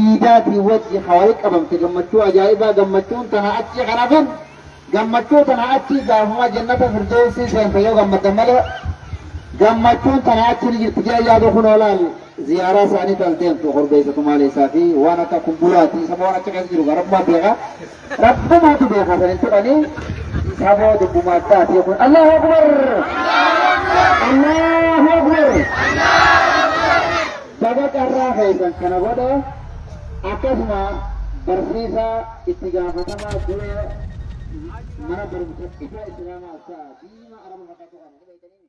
iidaatiin wajji ka wal qabamte gammachuu ajaa'ibaa gammachuun tana achii kan hafin gammachuu tana achii gaafuma jannata firdoossii seente yoo gammaddan malee gammachuun tana achii ni jirti jee yaadu kun olaal ziyaaraa isaanii taas deemtu korbeessa tumaalee isaa fi waan akka kumbulaatii isa waan achi keessa jiru garabmaa beekaa Rabbumaatu beekaa san hin tuqani saboo dubbuma addaati kun Allahu Akbar Allahu Akbar baga carraa keessan kana godhe akkasuma barsiisaa itti gaafatamaa dura mana barumsa ifaa islaamaa isaa diima araba fakkaatu kana ni beektanii?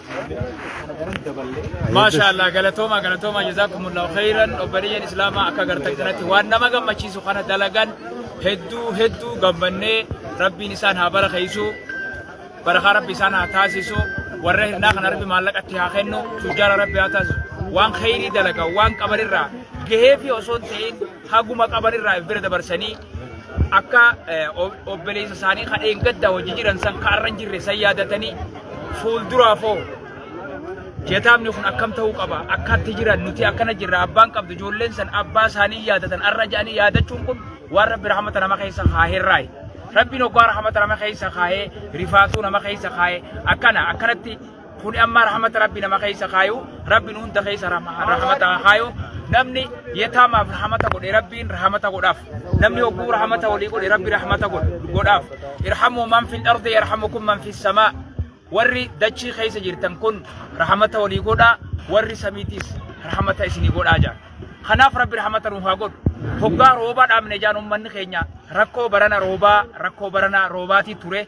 maashaa allah galatooma galatooma jazaakumullaahu khayran obboleeyyan islaamaa akka gartan kanatti waan nama gammachiisu kana dalagan hedduu hedduu gammannee rabbiin isaan haa barakeessu barakaa rabbi isaan haa taasisu warra hirnaa kana rabbi maallaqatti haa kennu tujjaara rabbi haa taasisu waan khayrii dalagan waan qabanirraa gahee fi osoo hin ta'in haguma qabanirraa if bira dabarsanii akka obboleessa isaanii kan eeggadda hojii jiran san kaarra hin jirre san yaadatanii fuulduraaf hoo jetaamni kun akkam ta'uu qaba akkatti jiran nuti akkana jirra abbaan qabdu ijoolleen san abbaa isaanii yaadatan arra jedhanii yaadachuun kun waan rabbi rahmata nama keessa kaahirraayi rabbiin oggaa rahmata nama keessa kaahee rifaatuu nama keessa kaahee akkana akkanatti Kuni amma rahmata rabbi nama keessa kaayu rabbiin hunda keessa rahmata kaayu namni yataamaaf rahmata godhe rabbiin rahmata godhaaf namni hogguu rahmata walii godhe rabbi rahmata godhaaf irhamuu man fil ardi yarhamukum man fis samaa warri dachii keessa jirtan kun rahmata walii godhaa warri samiitiis rahmata isinii godhaa jaa kanaaf rabbi rahmata nuuf haa godhu hoggaa roobaa dhaabne jaan ummanni keenya rakkoo barana roobaa rakkoo barana roobaatii ture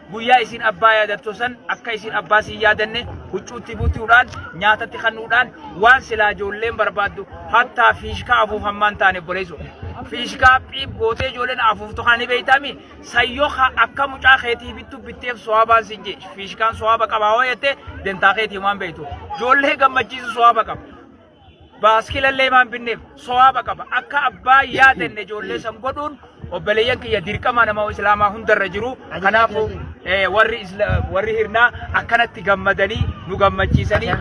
Guyyaa isin abbaa yaadattu san akka isin abbaa siin yaadanne huccuutti butuudhaan nyaatatti kannuudhaan waan silaa ijoolleen barbaaddu hattaa fiishkaa afuufammaan taane obboleessu. Fiishkaa phiib gootee ijoolleen afuuftu kana ni beeytaami sayyoo ka akka mucaa keetii bittu bitteef sowaabaan siin jee fiishkaan sowaaba qabaa hoo jettee dentaa keetii waan beeytu. Ijoollee gammachiisu sowaaba qaba. baaskilallee maan binneef sowaaba qaba akka abbaa yaadenne ijoollee san godhuun obboleeyyan kiyya dirqama nama islaamaa hundarra jiru kanaafuu eh, warri isla- warri hirnaa akkanatti gammadanii nu gammachiisanii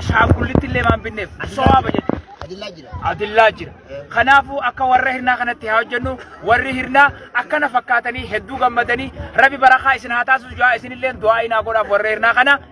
ashaangullitti illee maan binneef sowaaba jechuudha. Adillaa jira. adillaa jira. Kanaafuu akka warra hirnaa kanatti haa hojjennu warri hirnaa akkana fakkaatanii hedduu gammadanii rabi barakaa isin haa taasisu jaa isinillee du'aa inaa godhaaf warra hirnaa kana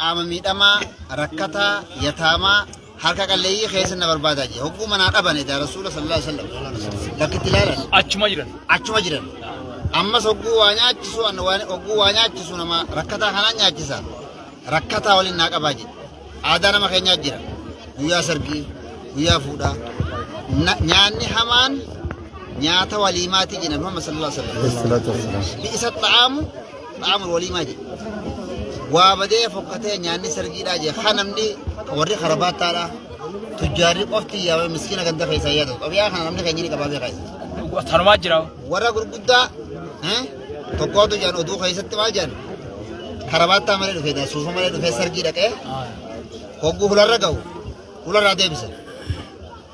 qaama miidhamaa, rakkataa, yataamaa, harka qalleeyyii keessa na barbaadaa jee. Hogguu manaa dhaban edaa Rasuula sallallahu alaihi wasallam bakkitti ilaalan. Achuma jiran. Achuma jiran. Ammas hogguu waa nyaachisu hogguu waa nyaachisu nama rakkataa kanaan nyaachisa. Rakkataa waliin naa qabaa jedhe. Aadaa nama keenyaa jira. Guyyaa sargii, guyyaa fuudhaa. Nyaanni hamaan nyaata waliimaatii jedhan Muhammad sallallahu alaihi wasallam. Bi'isa xa'aamu Qaamni walii maa jedhe. Waa badee fokkatee nyaanni sargiidhaa jee kan namni warri karabaattaadhaa tujjaarri qofti yaabee miskiina ganda keessaa yaadu. Qabiyaa kana namni keenya ni qabaa beekaa. Tanumaa jira. Warra gurguddaa eh, tokkootu jedhan oduu keessatti maal jedhan karabaattaa malee dhufee jedhan suufa malee dhufee sargii dhaqee hogguu hularra gahu hularraa deebisan.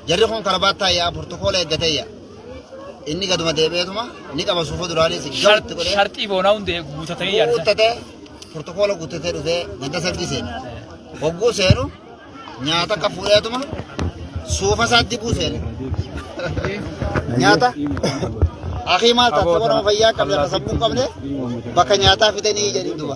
Jarri kun karabaattaa yaa burtukoola eeggatee yaa. Inni gaduma deebi'eetuma ni qaba suufuu duraanii si gabatti godhee. Sharxii boonaa hundee guutatee yaadda. Guuttatee burtukoola guuttatee dhufee ganda sargii seenu. Hogguu seenu nyaata akka fuudheetuma suufa isaa dibuu seenu. Nyaata akii maal taate nama fayyaa qabne akka sammuu qabne bakka nyaataa fidanii jedhin duba.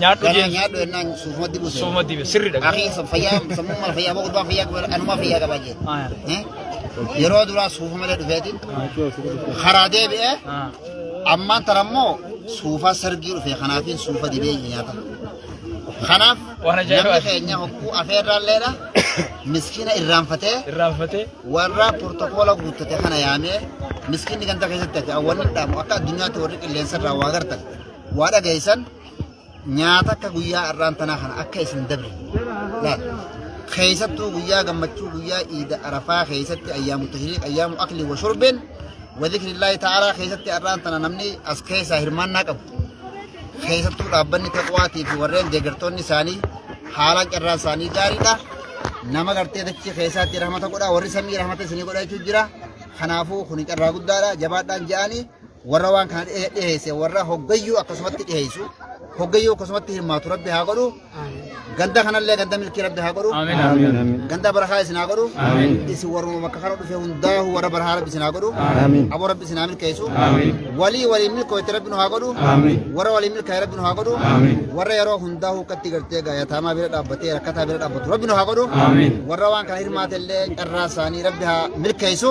Nyaadhu Ganaa jeen. nyaadhu ennaan suufuma dibu seena. Suuma dibe sirridha. Akii fayyaa sammuu mala fayyaa moo gurbaan fayyaa qabaa anumaa fayyaa qabaa jeen. Ah, Eh? Yeroo duraa suufa malee dhufeeti. Karaa deebi'ee ah. ammaan tana immoo suufaa sargii dhufe kanaafiin suufa dibee nyaata. Kanaaf Waan ajaa'ibaa. namni keenya hokkuu afeerraalleedha. Miskiina irraanfatee Irraanfatee. warra portokoola guuttate kana yaamee miskiinni ganda keessatti hafe awwanni dhaamu akka addunyaatti warri qilleensa irraa waa gartan waa dhageessan nyaata akka guyyaa har'aan tanaa kana akka isin dabre laal keessattuu guyyaa gammachuu guyyaa iida arafaa keessatti ayyaamu tahiriiq ayyaamu akli wa shurbeen wa zikrillaahi ta'aalaa keessatti har'aan tana namni as keessaa hirmaannaa qabu keessattuu dhaabbanni taqwaatii fi warreen deeggartoonni isaanii haalaan carraan isaanii gaariidha nama gartee dachii keessaatti rahmata godha warri samii rahmata isinii godha jechuun jira kanaafuu kun carraa guddaadha jabaadhaan ja'anii warra waan kana dhihe- dhiheesse warra hoggayyuu akkasumatti dhiheessu hoggayyuu akkasumatti hirmaatu rabbi haa godhu ganda kanallee ganda milkii rabbi haa godhu ganda barahaa isin haa godhu isin warruma bakka kana dhufe hundaahu warra barahaa rabbi isin haa godhu aboo rabbi isin haa milkeessu walii waliin milkooyte rabbi nu haa godhu warra waliin milkaa'e rabbi nu haa godhu warra yeroo hundaahu akkatti gartee gaayataamaa bira dhaabbatee rakkataa bira dhaabbatu rabbi nu haa godhu warra waan kana hirmaate illee carraa isaanii rabbi haa milkeessu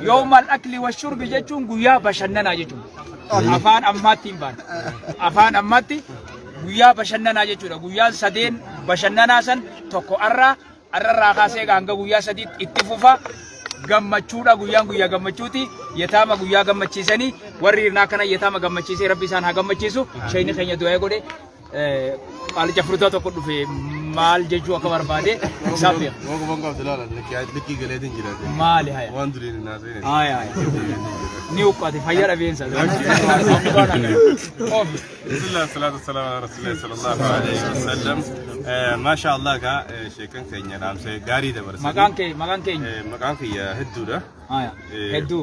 Yoomal akli wa shurbi jechuun guyyaa bashannanaa jechuudha. Afaan ammaatti hin baane. Afaan ammaatti guyyaa bashannanaa jechuudha. Guyyaan sadeen bashannanaa san tokko arraa arrarraa kaasee hanga guyyaa sadiitti itti fufa. Gammachuudha guyyaan guyyaa gammachuuti. Yetaama guyyaa gammachiisanii warri hirnaa kana yetaama gammachiisee rabbi isaan haa gammachiisu. Shayni keenya du'aa godhe. Qaalicha furdaa tokko dhufe maal jechuu akka barbaade isaaf beeka. Waan qaban qabdi laala likkii galeetiin jiraate. Maali haya? Waan duriin hin haasa'in. Haya haya. Ni uqqate fayyaa dhabeensa. Bismillah salatu wassalamu ala rasulillah sallallahu alaihi wasallam. Masha Allah ka sheekan keenya dhaamse gaarii dabarsan. Maqaan kee maqaan keenya. Maqaan kiyya hedduudha. Haya. Hedduu.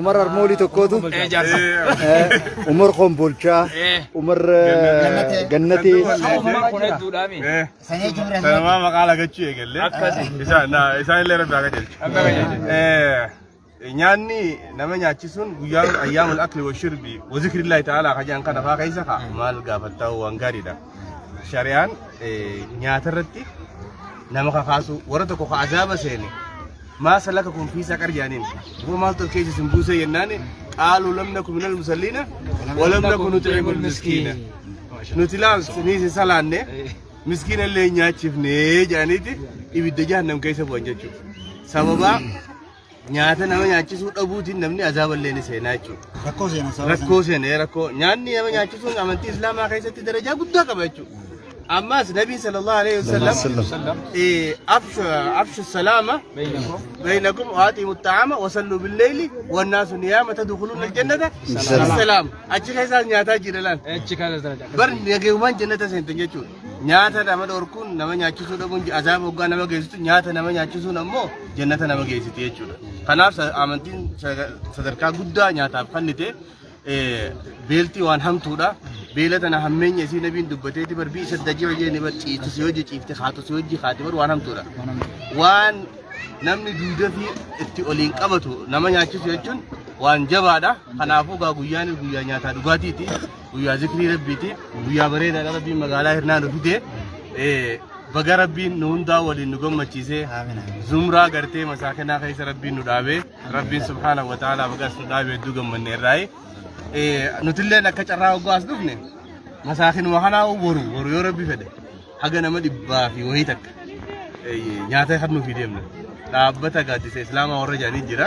Umar Armoolii tokkootu Umar Kombolchaa Umar Gannatee Sanuma maqaa lagachuu eegalle. Isaan illee rabbi akka jechu. nyaanni nama nyaachisuun guyyaa ayyaamul akli wa shirbi wa zikrillahi ta'ala hajaan kana faa keessa ka maal gaafattaa waan gaariidha. Shari'aan nyaata irratti nama kakaasu warra tokko ka azaaba seene maa salaka kun fiisaa qarjaaniin yoo maaltu as keessa isin buusee jennaan qaaluu lamna kun minal musalliina walamna kun nuti eegul miskiina. Nuti laams ni isin salaanne miskiina illee nyaachifne jedhaniiti ibidda jahannam keessa bu'an jechuudha. Sababaa Nyaata nama nyaachisuu dhabuutiin namni azaaba illee ni seenaa jechuudha. Rakkoo seenaa sababa Rakkoo seenee rakkoo nyaanni nama nyaachisuun amantii islaamaa keessatti darajaa guddaa qaba jechuudha. Ammaas nabiin sallallahu alaihi wasallam eh, afshu afshu salaama bainakum waaxiimu ta'ama wasalluu billeeyli wannaasu niyaama tadukuluun aljannata salaam achi keessaas nyaataa jira laan bar nagayumaan jannata seentan jechuudha. Nyaata nama dhorkuun nama nyaachisuu dhabuun azaaba hoggaa nama geessitu nyaata nama nyaachisuun ammoo jannata nama geessiti jechuudha. Kanaaf amantiin sadarkaa guddaa nyaataaf kennite beeltii waan hamtuudha. Beela tana hammeenya isii nabiin dubbateeti bar bii isa dajii hojii ni bar ciifti si hojii ciifti haatu si hojii haati bar waan hamtuudha. Waan namni duudaa fi itti oliin qabatu nama nyaachisu jechuun waan jabaadha. Kanaafuu gaa guyyaan guyyaa nyaataa dhugaatiiti. guyyaa zikrii rabbiiti guyyaa bareedaadha rabbiin magaalaa hirnaa nu fide Eh, baga rabbiin nu hundaa waliin nu gammachiise zumraa gartee masaakinaa keessa rabbiin nu dhaabe rabbiin subhaanahu wa ta'aalaa bagaas nu dhaabe hedduu gammanne irraayi Eh, nutilleen akka carraa hoggaa as dhufne masaakinuma kanaa boru boru yoo rabbi fedhe haga nama dhibbaa fi wayii takka eh, nyaata kan nuuf deemne dhaabbata gaaddisa islaamaa warra jedhanii jira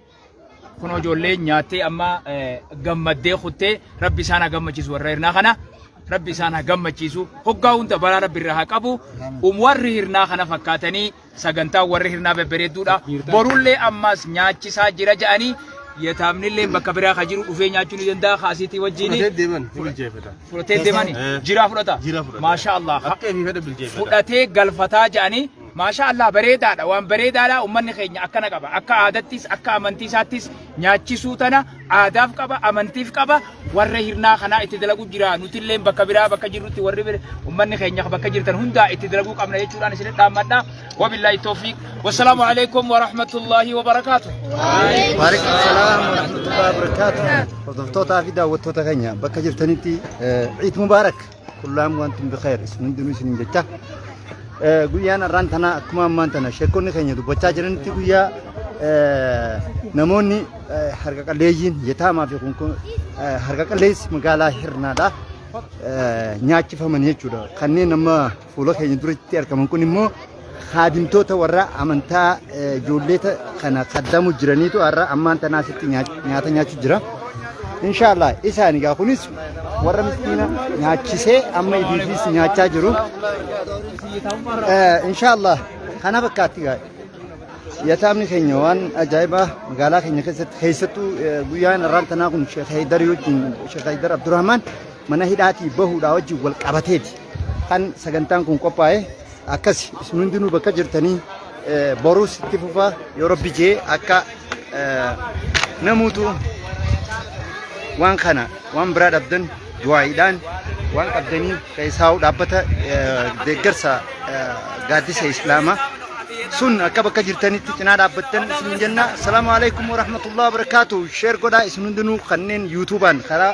Kun ijoollee nyaattee amma gammaddee kuttee rabbi isaan haa gammachiisu warra hirnaa kana. Rabbi isaan haa gammachiisu. Hoggaa hunda balaa rabbi irraa haa qabu. Um warri hirnaa kana fakkaatanii sagantaa warri hirnaa babbareedduudha. Borullee ammaas nyaachisaa jira ja'anii yetaamnillee bakka biraa ka jiru dhufee nyaachuu ni danda'a kaasiitii wajjin. Fudhatee deemani. Jiraa fudhata. Maashaa Allah. Fudhatee galfataa ja'anii Maashaa Allah bareedaadha waan bareedaadha ummanni keenya akkana qaba akka aadattis akka amantiisaattis nyaachisuu tana aadaaf qaba amantiif qaba warra hirnaa kanaa itti dalaguu jira nutilleen bakka biraa bakka jirrutti warri bira ummanni keenya bakka jirtan hundaa itti dalaguu qabna jechuudhaan isin dhaammadha wabillaahi toofiiq wassalaamu alaikum warahmatullaahi wabarakaatu. Waalaikum salaam wa rahmatullahi wa barakaatuh. Hordoftoota fi daawwattoota keenya bakka jirtanitti Ciid Mubaarak. kullaam wantum bikheer isin hundinuu isin jecha guyyaan har'aan tanaa akkuma ammaan tana sheekonni keenya dubbachaa jiranitti guyyaa namoonni harka qalleeyyiin yetaamaa fi kun harka qalleessi magaalaa hirnaadha nyaachifaman jechuudha kanneen amma fuula keenya duratti argaman kun immoo kaadimtoota warra amantaa eh, ijoolleeta kana kaddamu jiraniitu har'a ammaan tanaa asitti nyaa- nyaata nyaachuu jira. Inshaallah isaan egaa kunis warra miskiina nyaachisee amma idiifis nyaachaa jiru. Eh, Inshaallah kana fakkaatti egaa yataamni keenya waan ajaa'ibaa magaalaa keenya keessatti keessattuu eh, guyyaan irraan tanaa kun Sheekh Haydar wajjin Sheekh Haydar Abdurrahmaan mana hidhaatii bahuudhaa wajjin wal qabateeti kan sagantaan kun qophaa'e. akkasi isin hundinuu bakka jirtanii eh, boruus itti fufaa yoo rabbi jee akka eh, namuutu waan kana waan biraa dhabdan du'aa'iidhaan waan qabdanii keessaa'u dhaabbata eh, deeggarsa eh, gaaddisa islaamaa sun akka bakka jirtanitti cinaa dhaabbattan isin jenna salaamu alaikum warahmatullahi wabarakaatu sheer godhaa isin hundinuu kanneen yuutuubaan karaa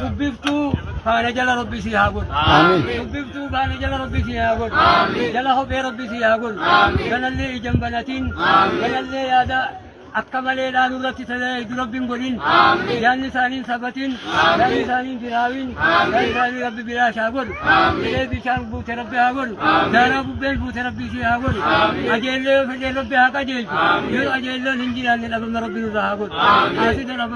dubbiftuu faana jala rabbi si haa godhu dubbiftuu faana jala rabbi si haa godhu jala hophee rabbi si haa godhu galallee ijan banatiin galallee yaada akka malee dhaanu irratti tajaajilu rabbiin godhin yaadni isaaniin sabatiin yaadni isaaniin firaawiin yaadni isaanii rabbi bilaash haa godhu bilee bishaan buute rabbi haa godhu daaraa bubbeen buute rabbi ishee haa godhu ajeellee yoo fedhee rabbi haa qajeelchu yoo ajeelloon hin jiraanne dhabama rabbi nurraa haa godhu haasida dhabama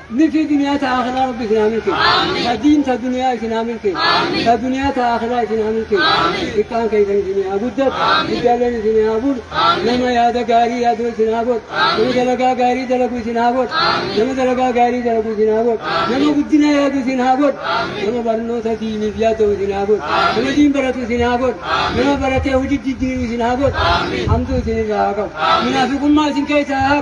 Milkii duniyaa ta akiraa rabbi isin haa milkeessu ta diin ta duniyaa isin haa milkeessu ta duniyaa ta akiraa isin haa milkeessu xiqqaan keessan isin haa guddatu guddaaleen isin haa bulu nama yaada gaarii yaaduu isin haa godhu nama dalagaa gaarii dalagu isin haa godhu nama dalagaa gaarii dalagu isin haa godhu nama guddina yaadu isin haa godhu nama barnoota diiniif yaadu isin haa godhu nama diin baratu isin haa godhu nama baratee hojii jijjiiru isin haa godhu hamtuu isin irraa haa qabu munaafiqummaa isin keessaa haa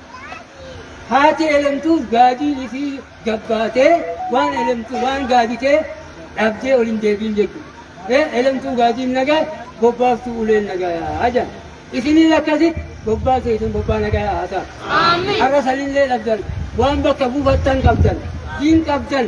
haati elemtuuf gaadiin isii gabbaatee waan elemtu waan gaaditee dhabdee ol hin deebiin jechuudha. Elemtuu gaadiin nagaa bobbaaftuu uleen nagaa yaa jedhan. Isiniin akkasitti bobbaa keessan bobbaa nagaa yaa ta'a. Har'a sanillee dhabdan waan bakka buufattan qabdan diin qabdan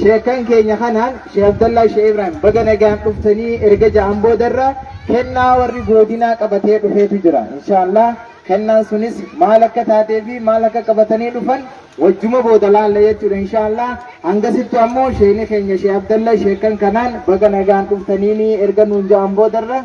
Sheekkan keenya kanaan Sheek Abdallaa Sheek Ibraahim baga nagaan dhuftanii erga ja'an boodarra kennaa warri goodinaa qabatee dhufeetu jira. Inshaallah kennaan sunis maal akka taatee fi maal akka qabatanii dhufan wajjuma booda laalla jechuudha inshaallah. Hangasittu ammoo sheekni keenya Sheek Abdallaa sheekkan kanaan baga nagaan dhuftanii erga nuun ja'an boodarra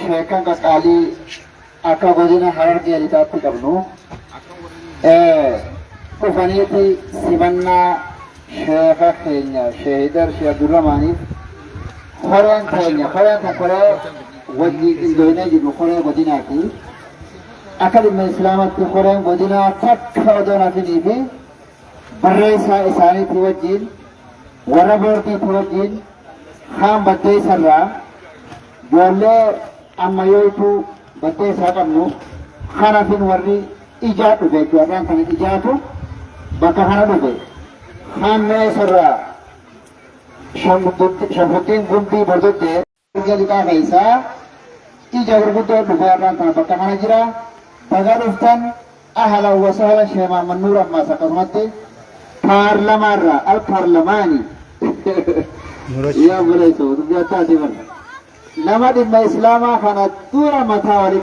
Sheekan qaqqaalii akka godina Harargee Lixaatti qabnu dhufaniiti simannaa sheeka keenya sheehidar shee Abdurrahmaaniif koreen keenya koreen kun koree wajjin qindoonee jiru koree godinaati. Akka dhimma islaamatti koreen godinaa takka odoo nafinii fi barreessaa isaaniitti wajjin warra boordiitti wajjin kaan baddeessarraa Joollee ammayooytuu battee isaa qabnu kanafin warri ijaa dhufe jechuudha. Har'aan kana ijaatu bakka kana dhufe. Hammee isarraa shanfuttiin gumbii bordottee erga lixaa keessaa ija gurguddoo dhufe har'aan kana bakka kana jira. Baga dhuftan. Ahlan wa sahlan Shee Mahammad Nuur ammaas akkasumatti paarlamaa irraa al paarlamaanii Nurachi. yaa obboleessa dubbii addaati bar nama dhimma islaamaa kana dura mataa walitti